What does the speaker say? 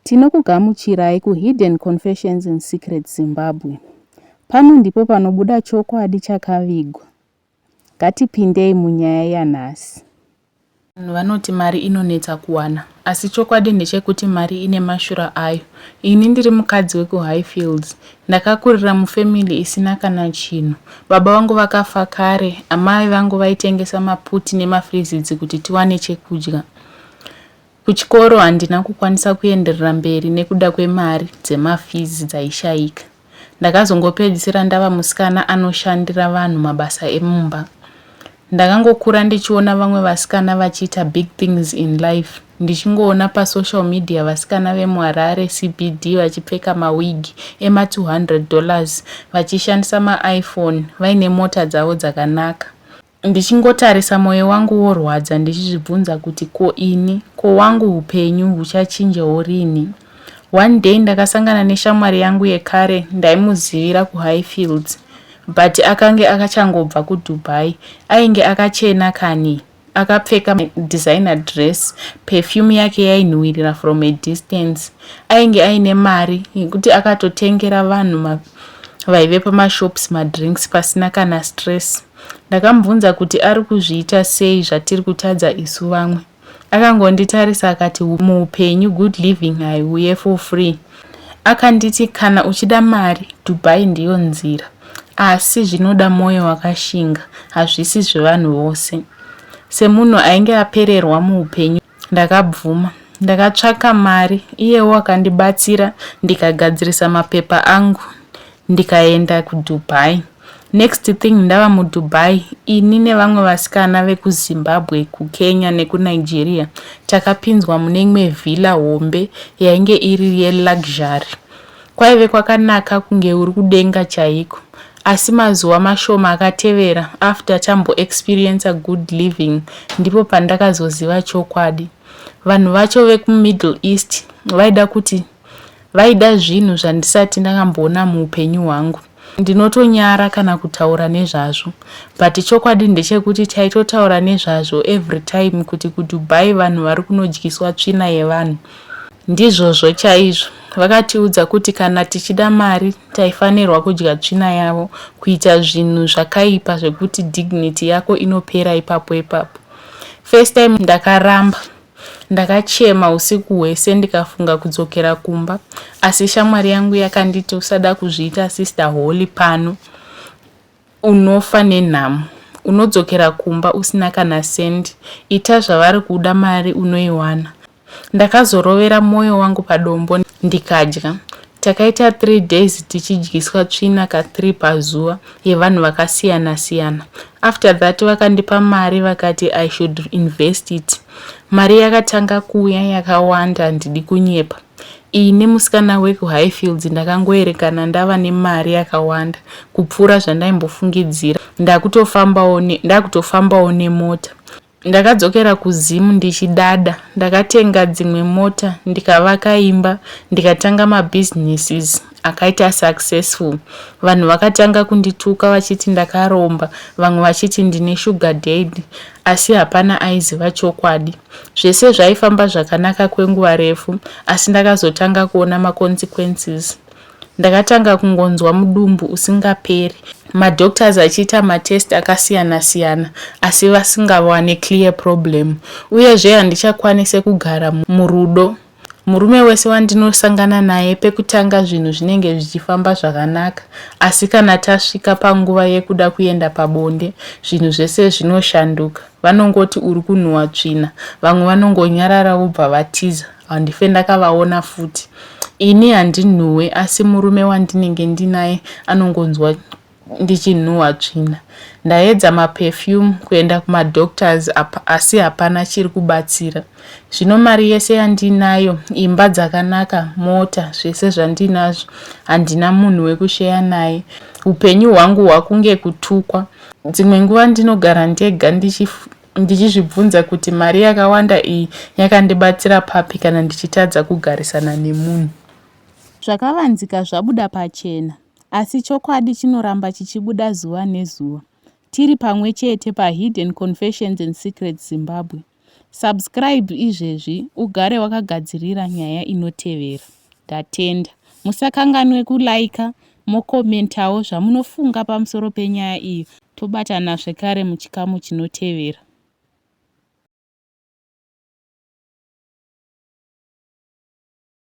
Tinokugamuchirai ku Hidden Confessions in Secret Zimbabwe. Pano ndipo panobuda chokwadi chakavigwa. Ngatipindei munyaya yanhasi. Vanhu vanoti mari inonetsa kuwana asi chokwadi ndechekuti mari ine mashura ayo. Ini ndiri mukadzi wekuHighfields. Ndakakurira mufamily isina kana chinhu. Baba vangu vakafa kare, amai vangu vaitengesa maputi nemafrizidzi kuti tiwane chekudya. Kuchikoro handina kukwanisa kuenderera mberi nekuda kwemari dzemafizi dzaishaika. Ndakazongopedzisira ndava musikana anoshandira vanhu mabasa emumba. Ndakangokura ndichiona vamwe vasikana vachiita big things in life ndichingoona pasocial media vasikana vemuharare cbd vachipfeka mawigi ema200 dollars vachishandisa maiphone vaine mota dzavo dzakanaka Ndichingotarisa moyo wangu worwadza ndichizvibvunza kuti ko ini, ko wangu hupenyu huchachinjawo rini? One day ndakasangana neshamwari yangu yekare ndaimuzivira kuHighfields but akange akachangobva kuDubai. Ainge akachena kani, akapfeka designer dress, perfume yake yainhuwirira from a distance. Ainge aine mari yekuti akatotengera vanhu vaive pamashops madrinks pasina kana stress. Ndakamubvunza kuti ari kuzviita sei zvatiri kutadza isu vamwe. Akangonditarisa akati muupenyu good living haiuye for free. Akanditi kana uchida mari Dubai ndiyo nzira asi zvinoda mwoyo wakashinga hazvisi zvevanhu vose. Semunhu ainge apererwa muupenyu Ndakabvuma. Ndakatsvaka mari iyewo akandibatsira ndikagadzirisa mapepa angu ndikaenda kuDubai. Next thing ndava muDubai ini nevamwe vasikana vekuZimbabwe, kuKenya nekuNigeria takapinzwa mune imwe villa hombe yainge iri yeluxury. Kwaive kwakanaka kunge uri kudenga chaiko. Asi mazuva mashoma akatevera after tambo experiencer good living ndipo pandakazoziva chokwadi. Vanhu vacho veku Middle East vaida kuti vaida zvinhu zvandisati ndakamboona muupenyu hwangu. Ndinotonyara kana kutaura nezvazvo but chokwadi ndechekuti taitotaura nezvazvo every time kuti kuDubai vanhu vari kunodyiswa tsvina yevanhu. Ndizvozvo chaizvo. Vakatiudza kuti kana tichida mari taifanirwa kudya tsvina yavo kuita zvinhu zvakaipa zvekuti dignity yako inopera ipapo ipapo. First time ndakaramba Ndakachema usiku hwese ndikafunga kudzokera kumba asi shamwari yangu yakanditi usada kuzviita sister holy pano unofa nenhamo unodzokera kumba usina kana sendi ita zvavari kuda mari unoiwana ndakazorovera mwoyo wangu padombo ndikadya takaita 3 days tichidyiswa tsvina ka 3 pazuva yevanhu vakasiyana siyana after that vakandipa mari vakati i should invest it mari yakatanga kuuya yakawanda handidi kunyepa iyi nemusikana wekuhighfields ndakangoerekana ndava nemari yakawanda kupfuura zvandaimbofungidzira ndakutofambawo nemota Ndakadzokera kuZim ndichidada. Ndakatenga dzimwe mota, ndikavaka imba, ndikatanga mabusinesses akaita successful. Vanhu vakatanga kundituka vachiti ndakaromba, vamwe vachiti ndine sugar daddy, asi hapana aiziva chokwadi. Zvese zvaifamba zvakanaka kwenguva refu, asi ndakazotanga kuona maconsequences. Ndakatanga kungonzwa mudumbu usingaperi. Madoctors achiita matest akasiyana siyana asi vasingawane clear problem. Uyezve handichakwanise kugara murudo. Murume wese wandinosangana naye pekutanga zvinhu zvinenge zvichifamba zvakanaka asi kana tasvika panguva yekuda kuenda pabonde zvinhu zvese zvinoshanduka. Vanongoti uri kunhuwa tsvina, vamwe vanongonyarara vobva vatiza. handife ndakavaona futi ini handinhuwe asi murume wandinenge ndinaye anongonzwa ndichinhuwa tsvina ndaedza maperfume kuenda kumadoctors asi hapana chiri kubatsira zvino mari yese yandinayo imba dzakanaka mota zvese zvandinazvo handina munhu wekusheya naye upenyu hwangu hwakunge kutukwa dzimwe nguva ndinogara ndega ndichi ndichizvibvunza kuti mari yakawanda iyi yakandibatsira papi kana ndichitadza kugarisana nemunhu. Zvakavanzika zvabuda pachena, asi chokwadi chinoramba chichibuda zuva nezuva. Tiri pamwe chete paHidden Confessions and Secrets Zimbabwe. Subscribe izvezvi ugare wakagadzirira nyaya inotevera. Ndatenda. Musakanganwe kuliker, Mocommentawo zvamunofunga pamusoro penyaya iyi tobatana zvekare muchikamu chinotevera.